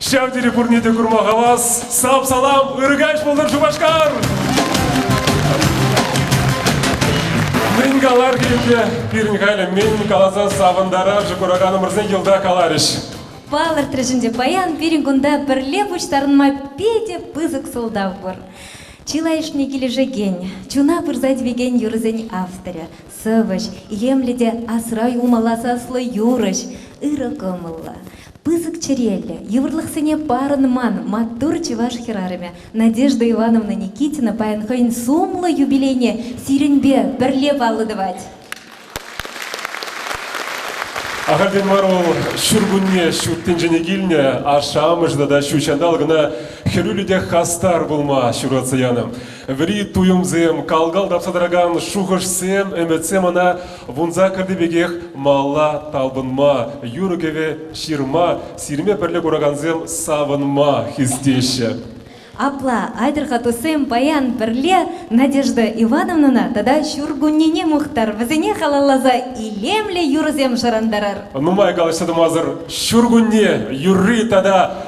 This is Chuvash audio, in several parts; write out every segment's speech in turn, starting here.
Ҫав тери пурне те курма хавас. Сап-салам, ыркаҫ пултӑр Шупашкар! Мӗн калар килте, пирӗн халӗ мӗн каласа савӑнтарашӗ кураканӑмӑрсен йӑлта каларӗҫ. Палӑртрӗҫ ӗнтӗ паян пирӗн кунта пӗрле пуҫтарӑнма питӗ пысӑк сӑлтав пур. Чылайӑшне килӗшекен, чуна пырса тивекен юрӑсен авторӗ, Сӑвӑҫ, илемлӗ те асра юлмалла саслӑ юрӑҫ, ырӑ кӑмӑллӑ, пысӑк чӗреллӗ, йывӑрлӑхсене парӑнман маттур чӑваш хӗрарӑмӗ Надежда Ивановна Никитина паян хӑйӗн сумлӑ юбилейне сирӗнпе пӗрле паллӑ тӑвать. Ахальтен мар вӑл ҫуркунне ҫут тӗнчене килнӗ ашшӗ-амӑшӗ тата ҫут ҫанталӑк кӑна хӗрӳллӗ те хастар пулма ҫуратса янӑ. Вӗри туйӑмсем, кал-кал тапса тӑракан шухӑшсем, ӗмӗтсем ӑна вунса кӗртнӗ пекех малла талпӑнма, юрӑ-кӗвӗ ҫырма, сирме пӗрле куракансем савӑнма хистеҫҫӗ. Апла, айтӑр-ха, туссем, паян пӗрле Надежда Ивановнӑна тата ҫуркуннене мухтар, вӗсене халалласа илемлӗ юрӑсем шӑрантарар. Нумай калаҫса тӑмасӑр ҫуркунне юрри тата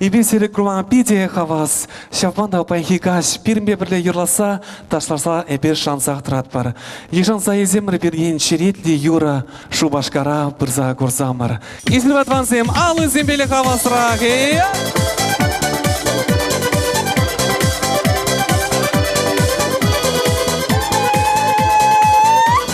Эпир сире курма питӗ хавас. Ҫавӑн та паянхи каҫ пирӗнпе пӗрле юрласа, ташласа эпир шансах тӑратпӑр. Йышӑнса ӳсӗмӗр пирӗн черетлӗ юрӑ Шупашкара пырса курсамӑр. Эсир, ватвансем, аллисемпеле хавасрах. Э?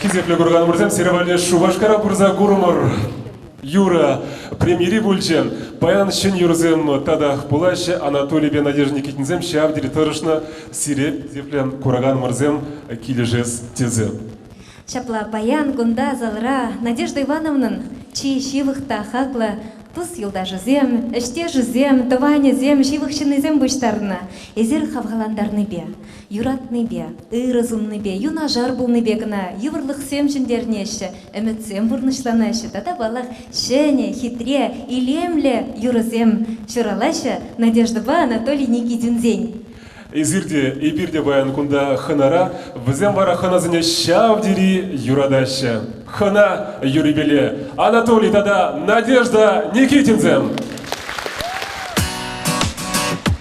Хисеплӗ курканмӑрсем, сирӗн валли Шупашкара пырса курӑмӑр. Юрӑ премьери пулчӗ. Паян ҫӗн юрӑсем татах пулаҫҫӗ. Анатолийпе Надежда Никитинсем ҫав тери тӑрӑшнӑ. Сире, хисеплӗ кураканмӑрсем, килӗшес тесе. Ҫапла, паян кунта залра Надежда Ивановнӑн чи ҫывӑх та хаклӑ тус-юлташӗсем, ӗҫтешӗсем, тӑванӗсем, ҫывӑх ҫыннисем пуҫтарнӑ эсир хавхалантарнипе. Юратнипе, ырӑ суннипе, юнашар пулнипе кӑна йывӑрлӑхсем ҫӗнтернеҫҫӗ, ӗмӗтсем пурнӑҫланаҫҫӗ тата, паллах, ҫӗнӗ, хитре, илемлӗ юрӑсем ҫуралаҫҫӗ Надеждӑпа Анатолий Никитинсен. Эсир те, эпир те паян кунта хӑнара, вӗсем вара хӑнасене ҫав тери юратаҫҫӗ. Хӑна юррипеле Анатолий тата Надежда Никитинсем.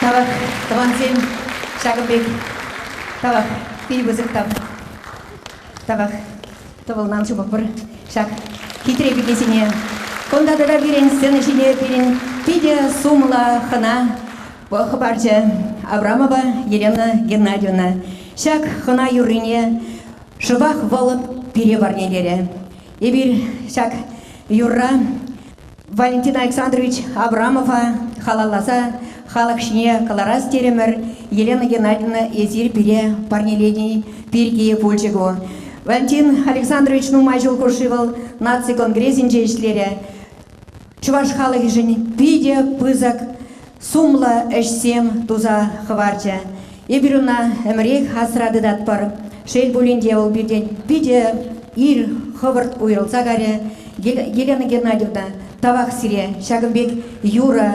Тавах тӑвансем ҫакӑн пек тавах пит пысӑк тав. Тавах тӑвӑлнан ҫупӑпӑр ҫак хитре кӗтесене. Кунта тата пирӗн сцена ҫине пирӗн питӗ сумлӑ хӑна Вӑл хыпарчӗ Абрамова Елена Геннадьевна. Ҫак хӑна юррине шӑпах вӑл пире парнелерӗ. Эпир ҫак юрра Валентин Александрович Абрамова халалласа халӑх ҫине кӑларас терӗмӗр. Елена Геннадьевна, эсир пире парнелени пирки пулчӗ ку. Валентин Александрович нумай ҫул хушши вӑл наци конгресӗнче ӗҫлерӗ. Чӑваш халӑхӗшӗн питӗ пысӑк сумлӑ ӗҫсем туса хӑварчӗ. Эпир ӑна ӗмӗрех асра тытатпӑр. Шел пулин те, вӑл пиртен питӗ ир хӑвӑрт уйрӑлса карӗ. Елена Геннадьевна тавах сире. Ҫакӑн пек юрӑ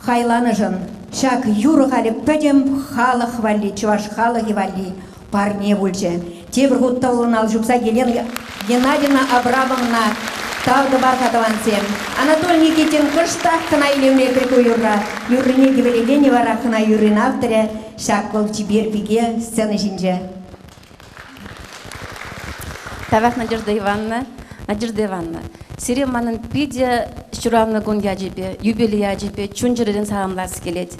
Хайланӑшӑн ҫак юрӑ халӗ пӗтӗм халӑх валли, чӑваш халӑхӗ валли парне пулчӗ. Тепӗр хут тӑвӑллӑн ал ҫупса Елена Геннадьевна Абрамовна тав тӑвар-ха тӑвансем. Анатолий Никитин кӑштах кӑна илемле кӗлку юрра юррине хӗвелекенӗ вара хӑна юррин авторӗ ҫак вӑл чипер пике сцена ҫинче. Тавах, Надежда Ивановна. Надежда Ивановна, сире манӑн питӗ ҫуралнӑ кун ячӗпе, юбилей ячӗпе чун-чӗререн саламлас килет.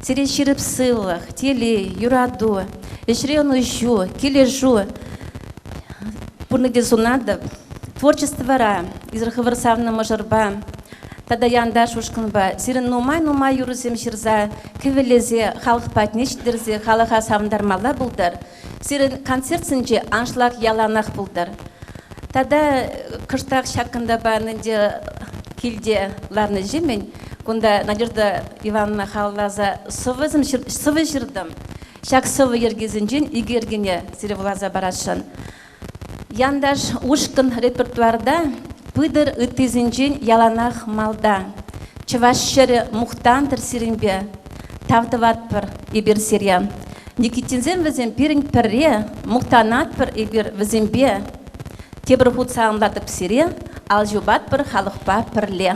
Сире ҫирӗп сывлӑх, телей, юрату, ӗҫре ӑнӑҫу, килӗшӳ пурнӑҫе сунатӑп. Творчество вара, эсир хӑвӑр савнӑ мӑшӑрпа тата янташ ушкӑнпа сирӗн нумай-нумай юрӑсем ҫырса, кӗвӗлесе, халӑх патне ҫитерсе халӑха савӑнтармалла пултӑр. Сирӗн концертсенче аншлаг яланах пултӑр. Тата кӑштах ҫакӑнтапа ӗнтӗ килте ларнӑҫемӗн кунта Надежда Ивановна халалласа сӑвӑ ҫыртӑм. Ҫак сӑвӑ йӗркисенчен икӗ йӗркене сире вуласа парасшӑн. Янташ ушкӑн репертуарта пытӑр ыттисенчен яланах малта. Чӑваш ҫӗрӗ мухтантӑр сирӗнпе, тав тӑватпӑр эпир сире. Никитинсем вӗсем пирӗн пӗрре, мухтанатпӑр эпир вӗсемпе. Тепӗр хут саламлатӑп сире, ал ҫупатпӑр халӑхпа пӗрле.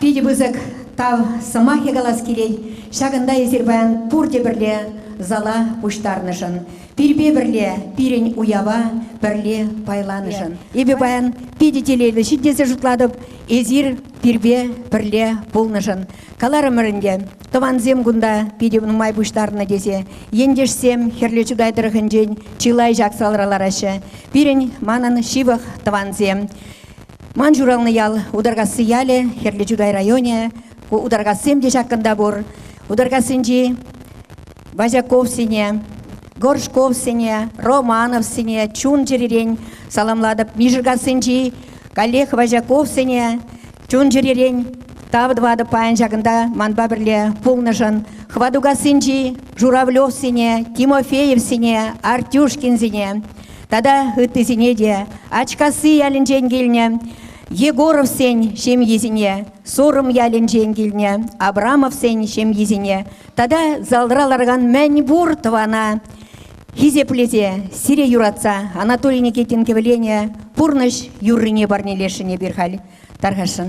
Питӗ пысӑк тав сӑмахӗ калас килет. Ҫакӑнта эсир паян пурте пӗрле зала пуҫтарнӑшӑн, Пирпе пӗрле пирӗн уява пӗрле пайланӑшӑн. Эпӗ паян питӗ телейлӗ ҫын тесе шутлатӑп. Эсир пирпе пӗрле пулнӑшӑн. Каларӑмӑр ӗнтӗ, тӑвансем кунта питӗ нумай пуҫтарнӑ тесе. Ентешсем Хӗрлӗ Чутай тӑрӑхӗнчен чылай ҫак салара лараҫҫӗ. Пирӗн манӑн ҫывӑх тӑвансем. Ман ҫуралнӑ ял Утаркасси ялӗ, Хӗрлӗ Чутай районӗ. Ку Утаркассем те ҫак кунта пур. Утаркассинчи Вазяковсене, Горшковсене, Романовсене чун-чӗререн саламлатӑп. Мишеркассинчи каллех Вазяковсене чун-чӗререн тав тӑватӑп паян ҫакӑнта манпа пӗрле пулнӑшӑн. Хватукассинчи Журавлевсене, Тимофеевсене, Артюшкинсене тата ыттисене те, Ачкасси ялӗнчен килнӗ Егоровсен ҫемйисене, Сурӑм ялӗнчен килнӗ Абрамовсен ҫемйисене Тата залра ларган мӗн пур тӑвана хисеплесе, сире юратса Анатолий Никитин кӗвӗлене пурнӑҫ юррине парнелесшӗн эпир халь. Тархасшӑн.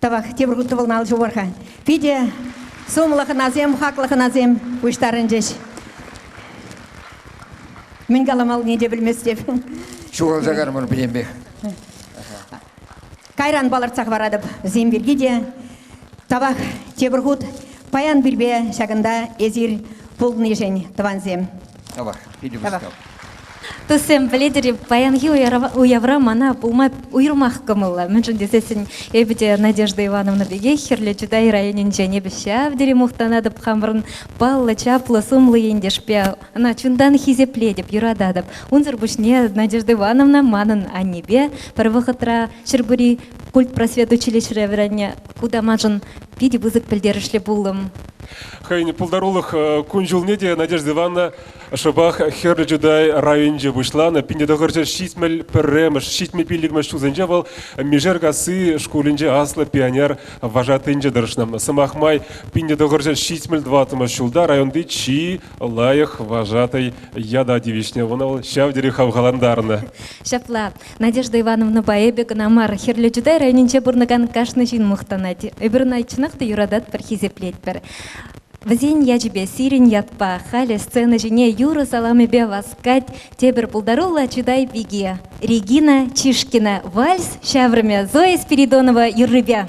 Тавах, тепӗр хут тӑвӑлна ал ҫупӑр-ха. Питӗ сумлӑ хӑнасем, хаклӑ хӑнасем пуҫтарӑнчӗҫ. Мӗн каламаллине те пӗлместеп. Ҫухалса кармӑр пӗтенпех. Кайран палӑртса хӑваратӑп вӗсем пирки те. Тавах тепӗр хут паян пирпе ҫакӑнта эсир пулнишӗн, тӑвансем. Тавах. Питӗ мускав. Туссем, пӗлетӗр-и, паянхи уявра мана пулма уйрӑмах кӑмӑллӑ. Мӗншӗн тесессӗн эпӗ те Надежда Ивановна пекех Хӗрлӗ Чутай районӗнчен эпӗ ҫав тери мухтанатӑп хамӑрӑн паллӑ чаплӑ-сумлӑ ентешпе. Ӑна чунтан хисеплетӗп, юрататӑп. Унсӑр пуҫне Надежда Ивановна манӑн аннепе пӗр вӑхӑтра Ҫӗрпури культпросвет училищӗре вӗреннӗ. Ку та маншӑн питӗ пысӑк пӗлтерӗшлӗ пулӑм. Хӑйӗн пултарулӑх кун-ҫулне те Надежда Ивановна шӑпах Хӗрлӗ Чутай районӗнче пуҫланӑ. Пинте тӑхӑрҫӗ ҫитмӗл пӗрремӗш, ҫитмӗл пиллӗкмӗш ҫулсенче вӑл Мишеркасси шкулӗнче аслӑ пионер вожатӑйӗнче тӑрӑшнӑ. Сӑмах май, пинте тӑхӑрҫӗ ҫитмӗл тӑваттӑмӗш ҫулта районти чи лайӑх вожатӑй ята тивӗҫнӗ. Ӑна вӑл ҫав тери хавхалантарнӑ. Ҫапла. Надежда Ивановнӑпа эпӗ кӑна мар, Хӗрлӗ Чутай районӗнче пурӑнакан кашни ҫын мухтанать. Эпир ӑна чӑнах та юрататпӑр, хисеплетпӗр. Вӗсен ячӗпе, сирӗн ятпа, халӗ сцена ҫине юрӑ саламӗпе васкать тепӗр пултаруллӑ Чутай пики, Регина Чишкина вальс ҫаврӑмӗ Зоя Спиридонова юррипе.